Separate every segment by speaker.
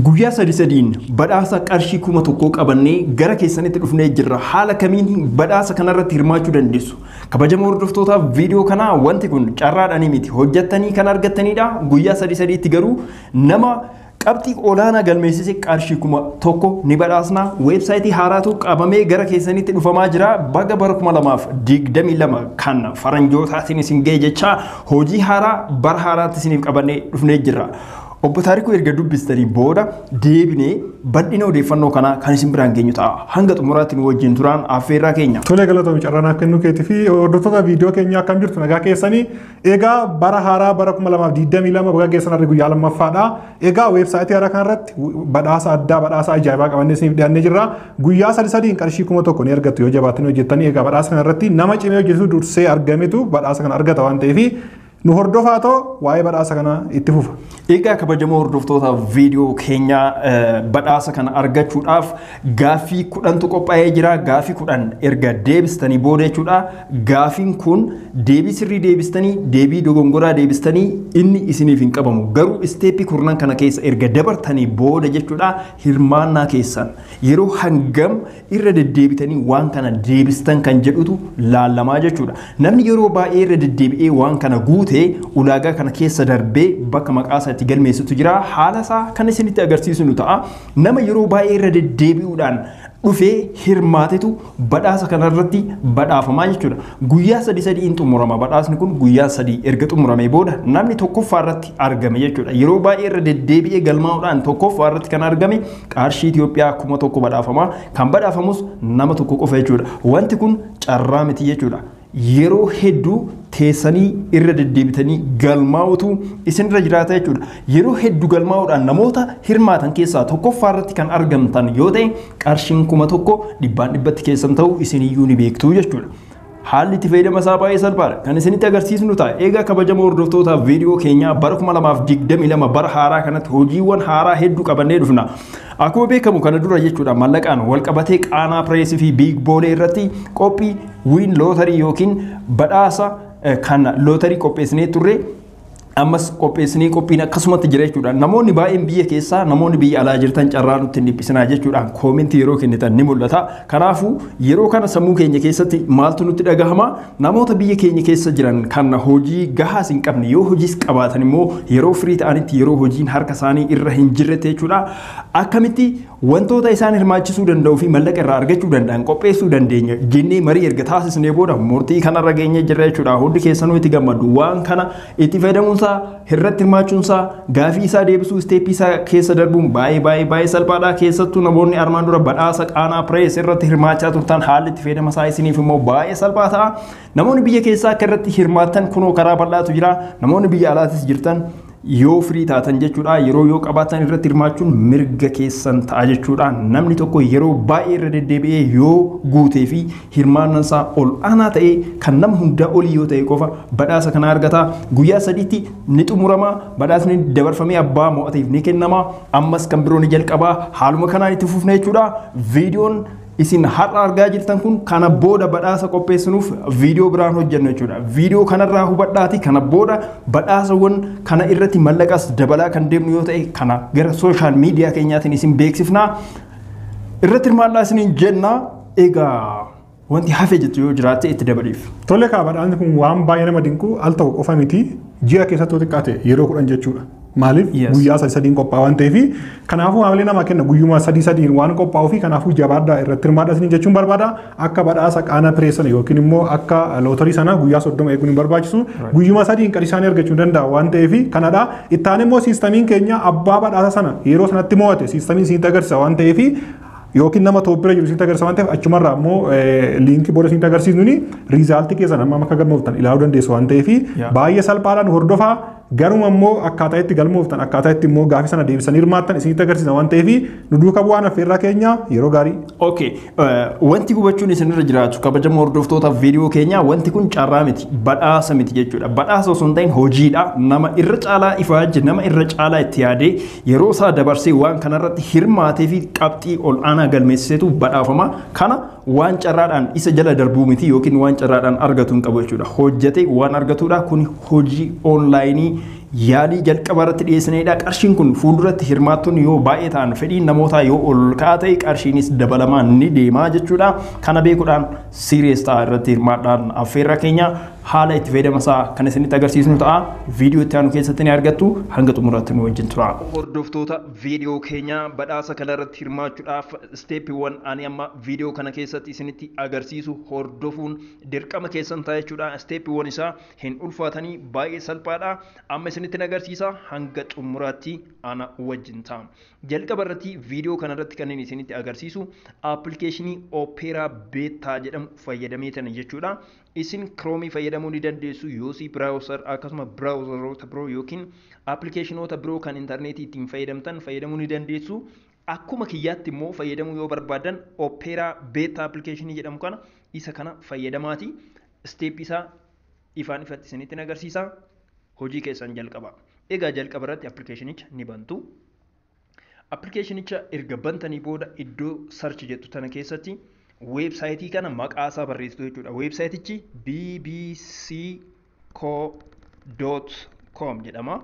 Speaker 1: Guyyaa sadi sadiin badhaasa qarshii kuma tokkoo qabannee gara keessanitti dhufnee jirra. Haala kamiin badhaasa kanarratti hirmaachuu dandeessu? Kabajamoo hordoftootaaf viidiyoo kanaa wanti kun carraadhaanii miti. Hojjattanii kan argattanidha. Guyyaa sadi sadiitti garuu nama qabxii olaanaa galmeessise qarshii kuma tokko ni badhaasna. Weebsaayitii haaraatu qabamee gara keessanitti dhufamaa jira. Baga bara kuma lamaaf digdamii lama kan faranjootaatiin isin ga'e jechaa hojii haaraa bara haaraatti isiniif qabannee dhufnee jirra. Obbo Taarikuu erga dubbistanii booda deebinee bal'ina odeeffannoo kanaa kan isin biraan geenyu ta'a. Hanga xumuraatti nu wajjin turaan affeerraa keenya. Tolee galatoomi carraan akka
Speaker 2: inni keetii fi hordoftoota viidiyoo keenya akkam jirtu nagaa keessanii egaa bara haaraa bara 2022 baga geessan harri guyyaa lammaffaadha. Egaa weebsaayitii haaraa kanarratti badhaasa addaa badhaasa ajaa'ibaa qabannee isiniif dhiyaannee jirra. Guyyaa sadi sadiin qarshii kuma tokko ni argattu yoo jabaattanii hojjettanii egaa badhaasa kanarratti nama cimee hojjetu dursee argametu badhaasa kana argata waan ta'eef Nu hordofaa too waa'ee badhaasa kanaa itti fufa. Egaa kabajamoo
Speaker 1: hordoftoota viidiyoo keenyaa eh, badhaasa kana argachuudhaaf gaaffii kudhantu qophaa'ee jira. Gaaffii kudhan erga deebistanii booda jechuudha. Gaaffiin kun deebii sirrii deebistanii, deebii dogongoraa deebistanii inni isiniif hin qabamu. Garuu isteeppii kurnan kana keessa erga dabartanii booda jechuudha hirmaannaa keessan yeroo hangam irra deddeebitanii waan kana deebistan kan jedhutu laalamaa jechuudha. Namni yeroo baay'ee irra deddeebi'ee waan kana guute ulaagaa kana keessa darbee bakka maqaa isaa itti galmeessutu jira. Haala isaa kan isinitti agarsiisnu ta'a. Nama yeroo baay'ee irra deddeebi'uudhaan dhufee hirmaatetu badhaasa kanarratti badhaafamaa jechuudha. Guyyaa sadii sadii in xumurama badhaasni kun guyyaa sadii erga xumuramee booda namni tokkoffaa irratti argame jechuudha. Yeroo baay'ee irra deddeebi'ee galmaa'uudhaan tokkoffaa irratti kan argame Qarshii Itoophiyaa kuma tokko badhaafama. Kan badhaafamus nama tokko qofa jechuudha. Wanti kun carraa miti jechuudha. Yeroo hedduu teessanii irra deddeebitanii galmaa'utu isinirra jiraata jechuudha. Yeroo hedduu galmaa'uudhaan namoota hirmaatan keessaa tokkoffaa irratti kan argamtan yoo ta'e qarshiin kuma tokko dhibbaan dhibbatti keessan ta'u isiniyyuu ni beektu jechuudha. Haalli itti fayyadama isaa baay'ee salphaadha. Kan isinitti agarsiisnu ta'a. Eegaa kabajamoo hordoftootaaf viidiyoo keenyaa bara 2022 bara haaraa kanatti hojiiwwan haaraa hedduu qabannee dhufna. Akkuma beekamu kana dura jechuudha mallaqaan wal qabatee qaanaa pireesii fi biig boolee irratti qophii wiin lootarii yookiin badhaasa kan lootarii qopheessinee turre ammas qopheessinee qophiin akkasumatti jira jechuudha. Namoonni baay'een biyya keessaa namoonni biyya alaa jirtan carraa nutti hin dhiphisinaa jechuudhaan koomentii yeroo kennitan ni mul'ata. Kanaafuu yeroo kana sammuu keenya keessatti maaltu nutti dhagahama namoota biyya keenya keessa jiran kan hojii gahaas hin qabne yoo hojiis qabaatan immoo yeroo firii ta'anitti yeroo hojiin harka isaanii irra hin jirretti jechuudha. Akkamitti Wantoota isaan hirmaachisuu danda'uu fi mallaqa irraa argachuu danda'an qopheessuu dandeenya jennee marii erga taasisnee booda murtii kanarra geenyee jirra jechuudha. Hundi keessanuu itti gammaddu. Waan kana itti fayyadamuun isaa, irratti hirmaachuun isaa, gaafii isaa deebisuu, isteeppii isaa keessa darbuun baay'ee baay'ee baay'ee salphaadha. Keessattuu namoonni armaan dura badhaasa qaanaa pirees irratti hirmaachaa turtan haalli itti fayyadama isaa isiniif immoo baay'ee salphaa ta'a. Namoonni biyya keessaa akka irratti hirmaattan kunoo karaa bal'aatu jira. Namoonni biyya alaatis jirtan Yoo firii taatan jechuudha yeroo yoo qabaatan irratti hirmaachuun mirga keessan ta'a jechuudha. Namni tokko yeroo baay'ee irra deddeebi'ee yoo guutee fi hirmaannaan isaa ol aanaa ta'ee kan nama hundaa olii yoo ta'e qofa badhaasa kana argata. Guyyaa sadiitti ni xumurama. Badhaasni dabarfamee abbaa mo'ateef ni kennama. Ammas kan biroo ni jalqaba. Haaluma kanaan itti fufna jechuudha. Viidiyoon Isin har'a argaa jirtan kun kana booda badhaasa qopheessinuuf viidiyoo biraan hojjennu jechuudha. Viidiyoo kanarraa hubadhaati kana booda badhaasawwan kana irratti mallaqas dabalaa kan deemnu yoo ta'e kana gara sooshaal miidiyaa keenyaatiin isin beeksifna. Irratti hirmaadhaa isiniin jenna. Egaa wanti hafe jettu yoo jiraatte itti dabaliif. Tole kaa badhaasni kun
Speaker 2: waan baay'ee nama dinqu al tokko qofa miti ji'a keessatti yoo xiqqaate yeroo kudhan jechuudha. Maaliif Yes. guyyaa sadii sadiin qophaa'aa waan ta'eef kanaafuu haamilee namaa kenna guyyuma sadii sadiin waan qophaa'uu fi kanaafuu jabaadhaa irratti hirmaadhaa isiniin jechuun barbaada akka badhaasa qaana piree sana yookiin immoo akka lootarii sana guyyaa soddoma eeguun hin barbaachisu guyyuma sadiin qarshii isaanii argachuu hin danda'a waan ta'eef kanadha itti aanee immoo siistamiin keenya abbaa badhaasa sana yeroo sanatti mo'ate siistamiin isinitti agarsiisa waan ta'eef yookiin nama tooppira jiru isinitti agarsiisa waan ta'eef achumarraa immoo eh, liinkii booda isinitti agarsiisnuuni riizaaltii keessan amma akka galmooftan ilaaluu dandeessu waan ta'eef Yeah. baay'ee salphaadhaan hordofaa Garuma immoo akkaataa itti galmooftan akkaataa itti immoo gaafii sana deebisanii hirmaattan isinitti agarsiisa waan ta'eef nu duuka bu'aan affeerraa keenya yeroo gaarii. Okay,
Speaker 1: wanti hubachuun isinirra jiraatu kabajamoo hordoftoota viidiyoo keenyaa wanti kun carraa miti badhaasa miti jechuudha. Badhaasa osoo hin ta'in hojiidha. Nama irra caalaa ifaajje nama irra caalaa itti yaadee yeroo isaa dabarsee waan kanarratti hirmaatee fi qabxii ol aanaa galmeessisetu badhaafama. Kana waan carraadhaan isa jala darbuu miti yookiin waan carraadhaan argatu hin qabu jechuudha. Hojjetee waan argatuudha. Kun hojii oonlaayinii yaalii jalqabaa irratti dhiyeessinedha. Qarshiin kun fuulduratti hirmaattonni yoo baay'ee ta'an fedhiin namootaa yoo ol ka'aa ta'e qarshiinis dabalamaa ni deema jechuudha. Kana beekuudhaan siiriyees ta'a irratti hirmaadhaan affeerra keenya haala itti fayyadama isaa kan isinitti agarsiisnu ta'a. Viidiyoo itti aanu keessatti ni argattu hanga xumuraatti nu wajjin tura. Hordoftoota viidiyoo keenya badhaasa kana irratti hirmaachuudhaaf Isteeppiiwwan ani amma viidiyoo kana keessatti isinitti agarsiisu hordofuun dirqama keessan ta'a jechuudha. Isteeppiiwwan isaa hin ulfaatanii baay'ee salphaadha. Amma isinittin agarsiisa hanga xumuraatti ana wajjin ta'a. Jalqaba irratti viidiyoo kana irratti kan inni isinitti agarsiisu appilikeeshinii Opera Beta jedhamu fayyadameetani jechuudha. Isin Chrome fayyadamuu ni dandeessu, Yossi Browser akkasuma browseroota biroo yookiin appilikeeshinoota biroo kan intarneetii ittiin fayyadamtan fayyadamuu ni dandeessu. Akkuma kiyyaatti immoo fayyadamuu yoo barbaaddan Opera Beta Application jedhamu kana isa kana fayyadamaati step isaa ifaan ifatti isinitti hin agarsiisa hojii keessan jalqaba. Egaa jalqaba irratti appilikeeshinicha ni bantu. Appilikeeshinicha erga bantanii booda iddoo search jettu tana keessatti weebsaayitii kana maqaa isaa barreessitu jechuudha. Weebsaayitichi BBC co dot com jedhama.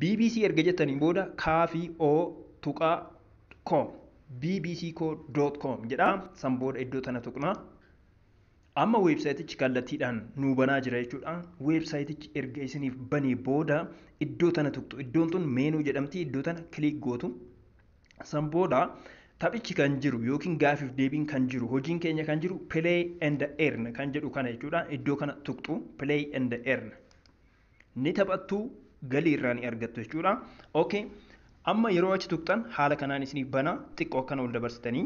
Speaker 1: bbc erga jettaniin booda kaa fi o tuqaa com bbc co dot com jedha san booda iddoo tana tuqna. Amma weebsaayitichi kallattiidhaan nuu banaa jira jechuudha. Weebsaayitichi erga isiniif banee booda iddoo tana tuqxu. Iddoon tun meenuu jedhamti. Iddoo tana kiliik gootu. San booda taphichi kan jiru yookiin gaafiif deebiin kan jiru hojiin keenya kan jiru play and earn kan jedhu kana jechuudha. Iddoo kana tuqxu play and earn ni taphattu galii irraa ni argattu jechuudha. Okay. Amma yeroo achi tuqxan haala kanaan isiniif bana xiqqoo akkana ol dabarsitanii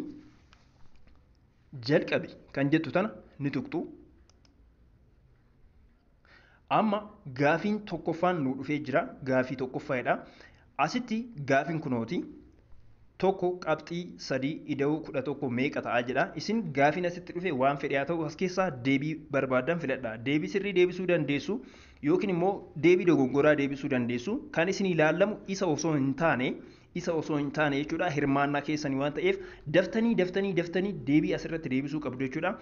Speaker 1: jalqabi kan jettu tana ni tuqxu. Amma gaafiin tokkoffaan nuu dhufee jira. Gaafii tokkoffaadha. Asitti gaafiin kunooti. Tokko qabxii sadii ida'uu kudha tokko meeqa ta'a jedha. Isin gaafiin asitti dhufe waan fedhe haa ta'u as keessaa deebii barbaaddan filadha. Deebii sirrii deebisuu dandeessu yookiin immoo deebii dogongoraa deebisuu dandeessu. Kan isin ilaalamu isa osoo hin taane isa osoo hin taane jechuudha hirmaannaa keessanii waan ta'eef daftanii daftanii daftanii deebii asirratti deebisuu qabdu jechuudha.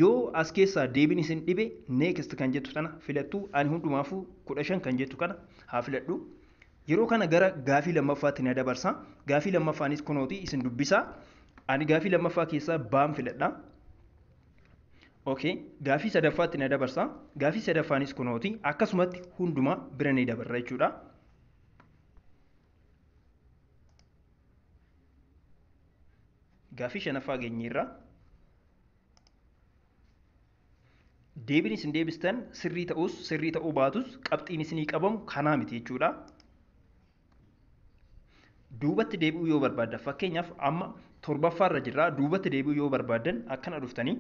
Speaker 1: Yoo as keessaa deebiin isin dhibe next kan jettu tana filattu ani hundumaafuu kudha shan kan jettu kana haa filadhu. Yeroo kana gara gaafii lammaffaatti na dabarsa. Gaafii lammaffaanis kunooti isin dubbisa. Ani gaafii lammaffaa keessaa baan filadha. Okay. Gaafii sadaffaatti na dabarsa. Gaafii sadaffaanis kunooti akkasumatti hundumaa bira ni dabarra jechuudha. Gaaffii shanaffaa geenyeerra. Deebiin isin deebistan sirrii ta'us sirrii ta'uu baatus qabxiin isinii qabamu kanaa miti jechuudha. Duubatti deebi'uu yoo barbaadda fakkeenyaaf amma torbaffaarra jirra duubatti deebi'uu yoo barbaaddan akkana dhuftanii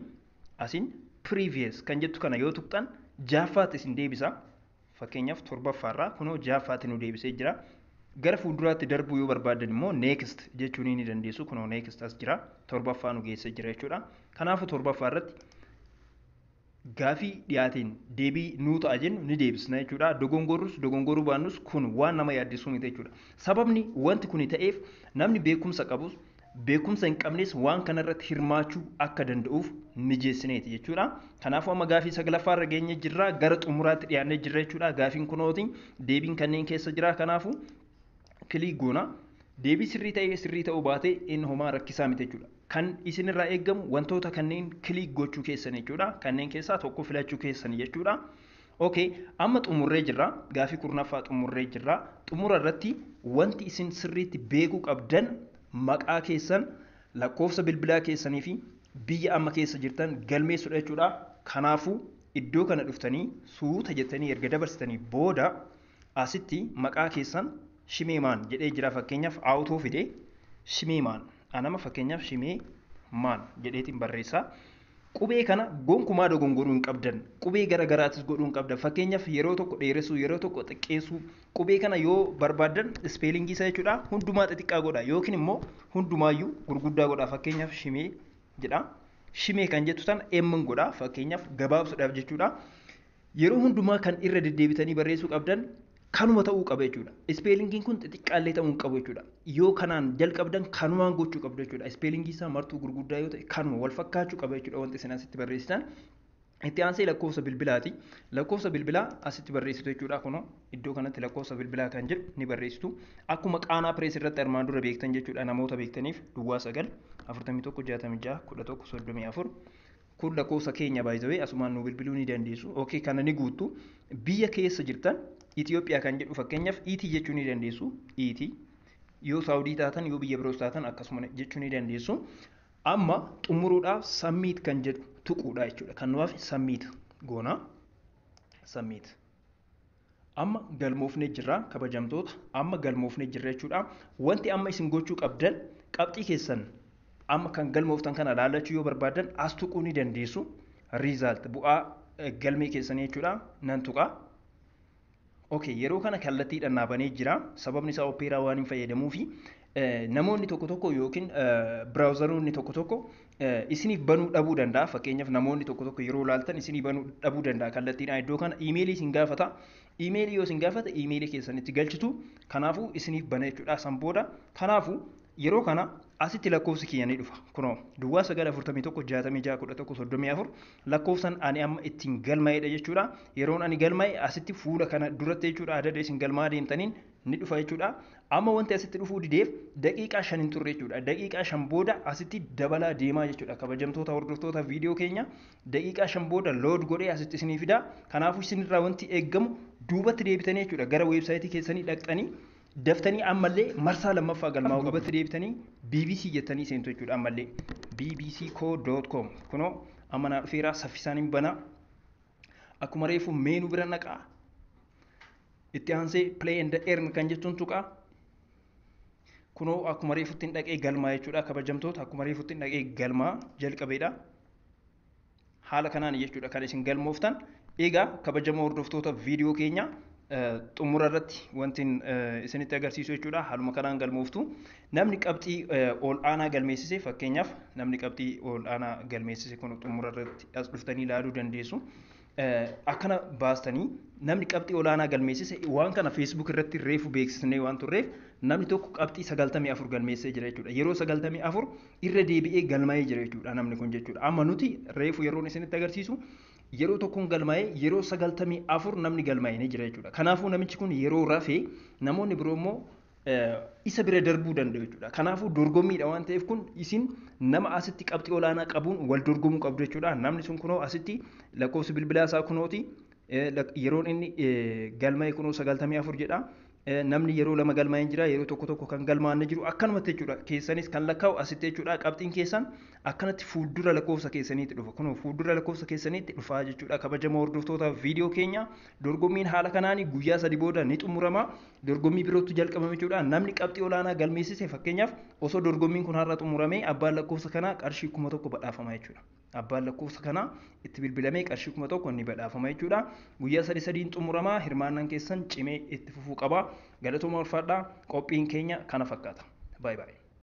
Speaker 1: asiin previous kan jettu kana yoo tuqxan jaaffaatti isin deebisa. Fakkeenyaaf torbaffaa irraa kunoo ja'affaatti nu deebisee jira. Gara fuulduraatti darbuu yoo barbaaddan immoo next jechuun ni dandeessu. Kunoo next as jira. Torbaffaa nu geessee jira jechuudha. Kanaafuu torbaffaa irratti gaafii dhiyaateen deebii nuu ta'a jennu ni deebisna jechuudha. Dogongorrus dogongoruu baannus kun waan nama yaaddessuu miti jechuudha. Sababni wanti kuni ta'eef namni beekumsa qabus beekumsa hin qabnes waan kana irratti hirmaachuu akka danda'uuf mijeessineeti jechuudha. Kanaafuu amma gaafii saglaffaa irra geenye jirra gara xumuraatti dhiyaannee jirra jechuudha. Gaafiin kunooti deebiin kanneen keessa jira kanaafuu kiliik goona. Deebii sirrii ta'ee sirrii ta'uu baatee inni homaa rakkisaa miti jechuudha. Kan isinirraa eegamu wantoota kanneen kiliik gochuu keessan jechuudha. Kanneen keessaa tokko filachuu keessan jechuudha. Ok amma xumurree jirra gaafii kurnaffaa xumurree jirra xumura irratti wanti isin sirriitti beekuu qabdan maqaa keessan lakkoofsa bilbilaa keessanii fi biyya amma keessa jirtan galmeessudha jechuudha kanaafu iddoo kana dhuftanii suuta jettanii erga dabarsitanii booda asitti maqaa keessan shimeemaan jedhee jira fakkeenyaaf aawutoo fide shimeemaan Anama fakkeenyaaf Shimee Maan jedheetiin barreessa. Qubee kana gonkumaa dogongoruu hin qabdan. Qubee gara garaatis godhuu hin qabdan. Fakkeenyaaf yeroo tokko dheeressuu, yeroo tokko xiqqeessuu. Qubee kana yoo barbaaddan ispeelingii isaa jechuudha hundumaa xixiqqaa godha yookiin immoo hundumaayyuu gurguddaa godha. Fakkeenyaaf Shimee jedha. Shimee kan jettu sana emmin godha. Fakkeenyaaf gabaabsuudhaaf jechuudha. Yeroo hundumaa kan irra deddeebitanii barreessuu qabdan kanuma ta'uu qaba jechuudha. Ispeelingiin kun xixiqqaallee ta'uu hin qabu jechuudha. Yoo kanaan jalqabdan kanumaan gochuu qabdu jechuudha. Ispeelingii isaa martuu gurguddaa yoo ta'e kanuma wal fakkaachuu qaba jechuudha wanti isin asitti barreessitan. Itti aansee lakkoofsa bilbilaati. Lakkoofsa bilbilaa asitti barreessitu jechuudha. Kunoo iddoo kanatti lakkoofsa bilbilaa kan jedhu ni barreessitu. Akkuma qaanaa pirees irratti armaan dura beektan jechuudha namoota beektaniif duwwaa sagal afurtamii tokko jaatamii ja'a kudha tokko soddomii afur Kun lakkoofsa keenya by the way asumaan nuu bilbiluu ni dandeessu ok kana ni guuttu biyya keessa jirtan Ethiopia kan jedhu fakkeenyaaf iitii jechuu ni dandeessu iitii yoo saawudii taatan yoo biyya biroos taatan akkasuma jechuu ni dandeessu amma xumuruudhaaf sammiit kan jedhu tuquudha jechuudha kan nuwaaf sammiit goona sammiit Amma galmoofnee jirra kabajamtoota amma galmoofnee jirra jechuudha. Wanti amma isin gochuu qabdan qabxii keessan amma kan galmooftan kana laallachuu yoo barbaadan as tuquu ni dandeessu. Riizaalt bu'aa galmee keessanii jechuudha nan tuqa. Okay, yeroo kana kallattiidhaan naa banee jira. Sababni isaa opeeraa waan hin fayyadamuufi namoonni tokko tokko yookiin biraawuzaroonni tokko tokko isiniif banuu dhabuu danda'a. Fakkeenyaaf namoonni tokko tokko yeroo ilaaltan isinii banuu dhabuu danda'a kallattiidhaan iddoo kana iimeelii isin gaafata. Iimeelii yoo isin gaafata iimeelii keessanitti galchitu kanaafuu isiniif bana jechuudha san booda kanaafuu yeroo kana asitti lakkoofsi kiyya ni dhufa kunoo duwwaa 941 lakkoofsan ani amma ittiin galmaa'edha jechuudha yeroon ani galmaa'e asitti fuula kana duratti jechuudha adada isin galmaa deemtaniin ni dhufa jechuudha. Amma wanti asitti dhufuu dideef daqiiqaa shan hin turre jechuudha. Daqiiqaa shan booda asitti dabalaa deemaa jechuudha. Kabajamtoota hordoftoota viidiyoo keenya daqiiqaa shan booda lood godhee asitti isinii fida. Kanaafuu isinirraa wanti eeggamu duubatti deebitanii jechuudha. Gara weebsaayitii keessanii dhaqxanii daftanii ammallee marsaa lammaffaa galmaa'uu duubatti deebitanii BBC jettanii seentu jechuudha ammallee bbcco.com kunoo amma naa dhufeeraa saffisaan hin banaa akkuma reefu meenuu bira naqaa itti aansee play and earn kan jettuun tuqa kunoo akkuma reefutti hin dhaqee galmaa jechuudha kabajamtoota akkuma reefutti hin dhaqee galmaa jalqabeedha haala kanaan jechuudha kan isin galmooftan egaa kabajamoo hordoftoota viidiyoo keenya xumura irratti wanti isinitti agarsiisu jechuudha haaluma kanaan galmooftu namni qabxii ol aanaa galmeessise fakkeenyaaf namni qabxii ol aanaa galmeessise kun xumura irratti as dhuftanii ilaaluu dandeessu akkana baastanii namni qabxii olaanaa galmeessise waan kana feesbuuk irratti reefu beeksisnee waan turreef namni tokko qabxii 94 galmeessee jira jechuudha. Yeroo 94 irra deebi'ee galmaa'ee jira jechuudha namni kun jechuudha. Amma nuti reefu yeroon isinitti agarsiisu yeroo tokkoon galmaa'ee yeroo 94 namni galmaa'ee jira jechuudha. Kanaafuu namichi kun yeroo rafee namoonni biroo immoo isa bira darbuu danda'u jechuudha. Kanaafuu dorgommiidha waan ta'eef kun isin nama asitti qabxii olaanaa qabuun wal dorgomuu qabdu jechuudha. Namni sun kunoo asitti lakkoofsi bilbilaa isaa kunooti yeroon inni galma'e kunoo sagaltamii afur jedha. Namni yeroo lama galmaa'ee hin jira yeroo tokko tokko kan galmaa'an ni jiru akkanumatti jechuudha. Keessanis kan lakkaa'u asitti jechuudha. Qabxiin keessan akkanatti fuuldura lakkoofsa keessaniitti dhufa. Kunoo fuuldura lakkoofsa keessaniitti dhufaa jechuudha. Kabajamoo hordoftoota viidiyoo keenya dorgommiin haala kanaan guyyaa sadi booda ni xumurama. dorgommii birootu jalqabame jechuudha. Namni qabxii olaanaa galmeessise fakkeenyaaf osoo dorgommiin kun har'a xumuramee abbaan lakkoofsa kanaa qarshii kuma tokko badhaafama jechuudha. Abbaan lakkoofsa kanaa itti bilbilamee qarshii kuma tokko ni badhaafama jechuudha. Guyyaa sadii sadiin xumuramaa hirmaannaan keessan cimee itti fufuu qaba. Galatooma ulfaadhaa qophiin keenya kana fakkaata. Baay'ee baay'ee.